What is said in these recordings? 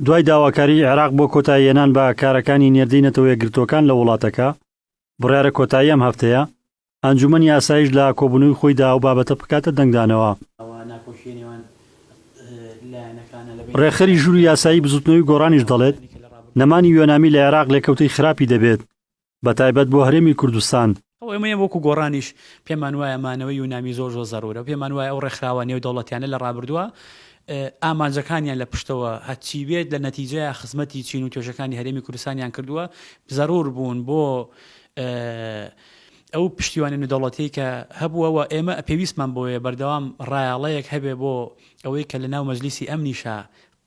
دوای داواکاریی عێراق بۆ کۆتاییهێنان بە کارەکانی نێردەی نەتەوەیەکگرتووەکان لە وڵاتەکە، بڕیارە کۆتایی ئەم هەفتەیە، ئەنجوومەنی ئاسایش لە کۆبوونەوەی خۆیدا ئەو بابەتە بکاتە دەنگدانەوە. رێکخەری ژووری یاسایی بزووتنەوەی گۆڕانیش دەڵێت، نەمانی یۆنامی لە عێراق لێکەوتەی خراپی دەبێت، بە تایبەت بۆ هەرێمی کوردستان. ئێمە وەکو گۆڕانیش پێمان وایە مانەوەی یونامی زۆر زۆر زەرورە، پێمان وایە ئەو ڕێکخراوە نێودەوڵەتیانە لە ڕابردووە ئامانجەکانیان لە پشتەوە هەرچی بێت لە نەتیجەیە خزمەتی چین و توێژەکانی هەرێمی کوردستانیان کردووە زەرور بوون بۆ ئەو پشتیوانی نودەوڵەتی کە هەبووەوە ئێمە پێویستمان بۆیە بەردەوام ڕایاڵەیەک هەبێ بۆ ئەوەی کە لە ناو مەجلیسی ئەمنیشە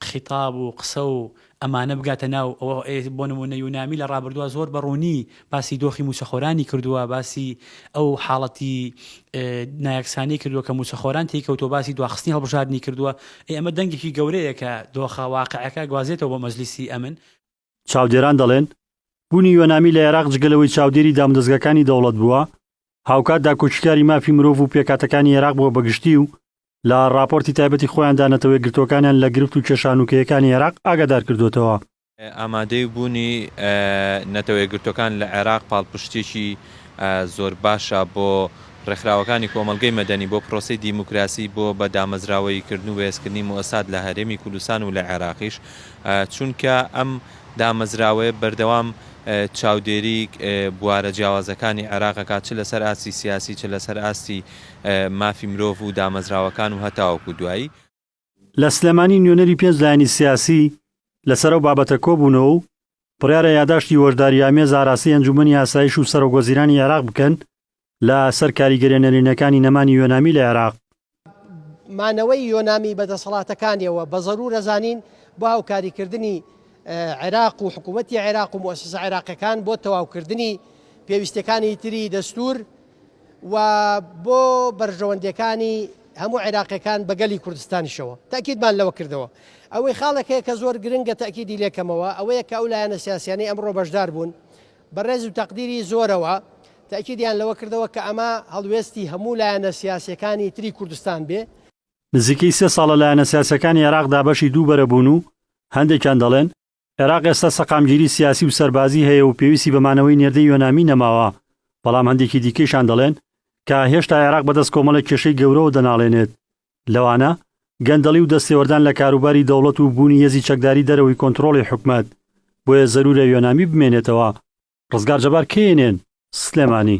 خیتاب و قسە و ئەمانە بگاتە ناو ئەوە ئێ بۆ نموونە یونامی لە ڕابردووە زۆر بە ڕوونی باسی دۆخی مووچەخۆرانی کردووە باسی ئەو حاڵەتی نایەکسانی کردووە کە مووچەخۆران تێی کەوتووە باسی دواخستنی هەڵبژاردنی کردووە ئێ ئەمە دەنگێکی گەورەیە کە دۆخە واقعەکە گوازێتەوە بۆ مەجلیسی ئەمن چاودێران دەڵێن، بوونی یۆنامی لە عێراق جگە لەوەی چاودێری دامودەزگاکانی دەوڵەت بووە، هاوکات داکۆکیکاری مافی مرۆڤ و پێکهاتەکانی عێراق بووە بەگشتی و لە ڕاپۆرتی تایبەتی خۆیاندا نەتەوە یەکگرتووەکانیان لە گرفت و کێشە هەنووکەیەکانی عێراق ئاگادار کردووەتەوە. ئامادەیی بوونی نەتەوە یەکگرتووەکان لە عێراق پاڵپشتییەکی زۆر باشە بۆ ڕێکخراوەکانی کۆمەڵگەی مەدەنی، بۆ پرۆسەی دیموکراسی، بۆ بە دامەزراوەییکردن و بەهێزکردنی موئەسسات لە هەرێمی کوردستان و لە عێراقیش. چونکە ئەم دامەزراوەیە بەردەوام چاودێری بوارە جیاوازەکانی عێراق ئەکات چ لەسەر ئاستی سیاسی چ لەسەر ئاستی مافی مرۆڤ و دامەزراوەکان و هەتاوەکو دوایی. لە سلێمانی نوێنەری پێنج لایەنی سیاسی لەسەر ئەو بابەتە کۆبوونەوە و بڕیارە یاداشتی هۆشدارییامێز ئاراستەی ئەنجوومەنی ئاسایش و سەرۆکوەزیرانی عێراق بکەن لە سەر کاریگەریە نەرێنیەکانی نەمانی یۆنامی لە عێراق. مانەوەی یۆنامی بە دەسەڵاتەکانیەوە بە زەرورە زانین بۆ هاوکاری کردنی عێراق و حکوومەتی عێراق و موسسە عێراقەکان بۆ تەواوکردنی پێویستەکانی تری دەستور و بۆ بەرژەوەندەکانی هەموو عێراقەکان بە گەلی کوردستانیشەوە تاکیدمان لەوە کردەوە ئەوەی خاڵەکەیە کە زۆر گرنگە تاکیدی لێکەمەوە ئەوەیە کە ئەو لایەنە سیاسیانی ئەمڕۆ بەشدار بوون بە ڕێز و تەقدیری زۆرەوە تەئکیدیان لەوە کردەوە کە ئەمە هەڵوێستی هەموو لایەنە سیاسییەکانی تری کوردستان بێ. نزیکەی سێ ساڵە لایەنە سیاسییەکانی عێراق دابەشی دوو بەرە بوون و هەندێکیان دەڵێن، عێراق ئێستا سەقامگیری سیاسی و سەربازی هەیە و پێویستی بە مانەوەی نێردەی یۆنامی نەماوە، بەڵام هەندێکی دیکەیشان دەڵێن کە هێشتا عێراق بەدەست کۆمەڵێک کێشەی گەورەوە دەناڵێنێت لەوانە گەندەڵی و دەستێوەردان لە کاروباری دەوڵەت و بوونی هێزی چەکداری دەرەوەی کۆنترۆڵی حکومەت، بۆیە زەرورە یۆنامی بمێنێتەوە. ڕزگار جەبار کەیەنێن، سلێمانی.